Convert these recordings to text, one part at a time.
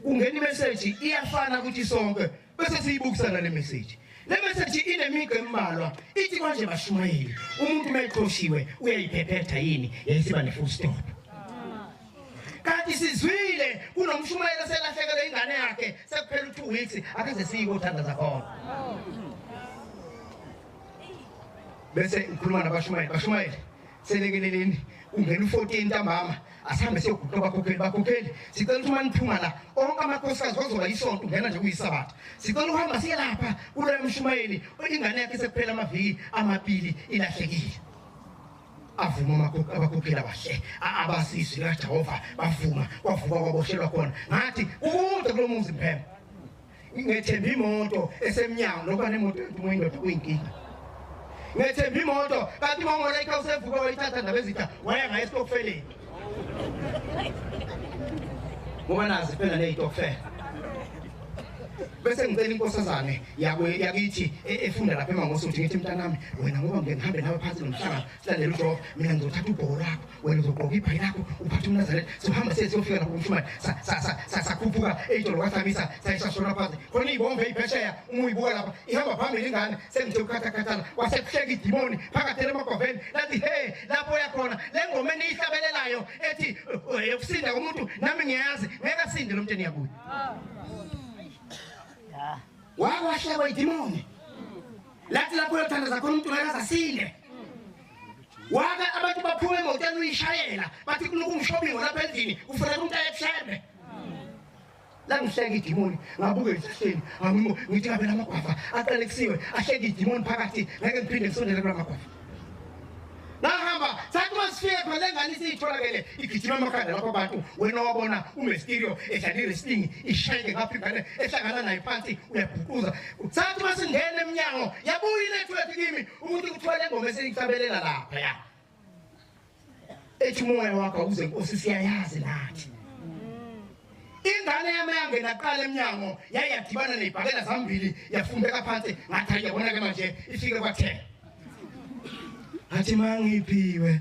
kungena imeseji iyafana kuthi sonke bese siyibukisana le meseji le meseji inemigqa embalwa ithi kwanje bashumayeli umuntu uma eqoshiwe uyayiphephetha yini yayisiba ne-full stop kanti sizwile kunomshumayeli oselahlekelwe ingane yakhe sekuphela u-two weeks akaze siyike othanda zakhona bese ukhuluma nabashumayeli bashumayeli selekeleleni ungena u-14 ntambama asihambe siyoguqa abakhokheli bakhokheli sicela ukuthi uma niphuma la onke amakhosikazi wazoba yisonto ungena nje kuyisabatha sicela ukuhamba siye lapha kuloya mshumayeli ingane yakhe sekuphela amaviki amabili ilahlekile avuma abakhokheli abahle abasizwe kajehova bavuma kwavuka kwaboshelwa khona ngathi kukude kulo muzi mphemba ngethemba imoto esemnyango nokuba nemoto entumo indoda kuyinkinga ngethemba imoto kanti umongola ikha usevuke wayithatha ndabezitha waya ngayo esitokfeleni ngoba nazi phela neyitokfela bese ngicela inkosazane yakithi e, efunda lapha emangosi ukuthi ngithi mntanami wena ngoba ngike ngihambe nawe phansi nomhlanga silalele ujofa mina ngizothatha ubhoko lakho wena uzogqoka ibhayi lakho uphathe umnazaretha sohamba siye siyofika lapho kumshumane sakhuphuka eyitolo kwathamisa sayishashona phansi khona iyibombe eyiphesheya uma uyibuka lapha ihamba phambili ingane sengithe ukukhathakhathana kwasekuhleka idimoni phakathi emagwaveni lathi he lapho uyakhona le ngoma eniyihlabelelayo ethi yokusinda eh, komuntu nami ngiyazi ngeke asinde lo mnteni yakuye wakwashekwa idimoni lathi lapho uyothandaza khona umuntu ngeke asasinde waka abantu baphume emotweni uyishayela bathi kulokhu umshobingo lapha endlini kufanele umuntu ayethembe langihleka idimoni ngabuke ezihleni angimo ngithi kabe lamagwafa aqalekisiwe ahleka idimoni phakathi ngeke ngiphinde ngisondele kula magwafa nahamba sathi uma sifike khona le ngane isiyitholakele igijima amakhanda lapho abantu wena wabona umestirio edlala iwrestling ishayeke ngapha ingane ehlangana nayo phansi uyaguquza sathi uma singena emnyango yabuya inethiwekhi kimi umuntu ukuthola ingoma eseyihlabelela lapha ya ethi umoya wakho uze nkosi siyayazi nathi ingane yami yangena qala emnyango yaye yadibana nebhakela zambili yafumbeka phansi ngathi ayabona-ke manje ifike kwathela ngathi mangiphiwe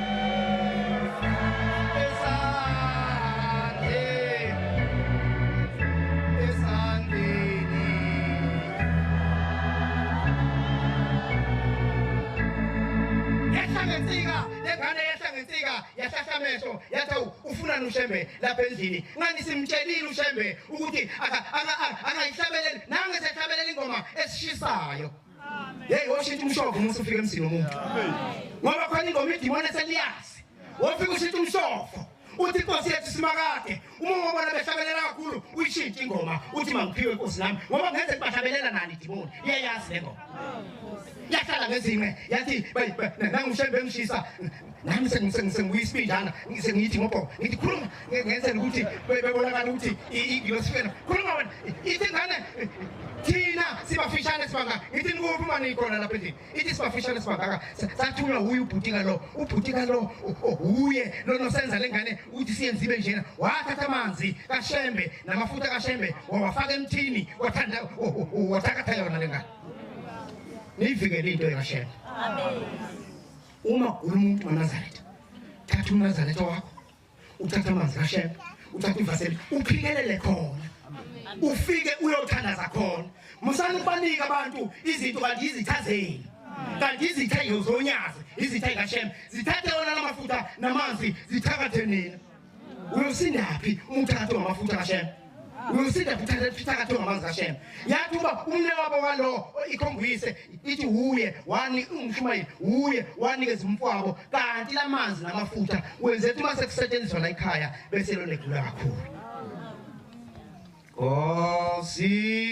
amehlo yathi awu ufunani ushembe lapha endlini ngani simtshelile ushembe ukuthi angayihlabeleli nange sehlabelela ingoma esishisayo Hey washintsha umshoko uma usufika emzini womuntu. Ngoba khona ingoma idimoni eseliyazi. Wofika ushintsha umshoko. Uthi inkosi yethu simakade. Uma ungabona behlabelela kakhulu uyishintsha ingoma uthi mangiphiwe inkosi nami ngoba ngeze kubahlabelela nani idimoni. Iyayazi le ngoma. Yahlala ngezinqe yathi nangushembe emshisa nami sengiyisibinjana sengiyithi ngobhoko ngithi khuluma ngenzela ukuthi bebonakala ukuthi ngilosifena khuluma wena ithi ngane thina sibafishane sibangaka ngithi nikuphi uma niyikhona lapha endlini ithi sibafishane sibangaka sathunywa wuye ubhutika lo ubhutika lo wuye lonosenza le ngane ukuthi siyenze ibe njena wathatha amanzi kashembe namafutha kashembe wawafaka emthini wathanda wathakatha yona le ngane niyivikele into ekashembe amen uma gula umuntu wanazaretha thatha unazaretha wakho uthatha amanzi kashela uthatha ivaseli uphikelele khona ufike uyothandaza khona musani ukubanika abantu izinto kanti izitha zenu kanti izitha yozonyazi izitha ikashela zithathe wona la mafuta namanzi zithakathe nina uyosindaphi umthakathi wamafutha kashem uyosindaphi umthakathi ongamanzi kashem yathi uba umne wabo walowo ikhombuyise ithi wuye wani umshumayeli wuye wanikeza umfwabo kanti la manzi namafutha wenze ukuthi uma sekusetshenziswa la ikhaya bese lonegula kakhulu Cosina.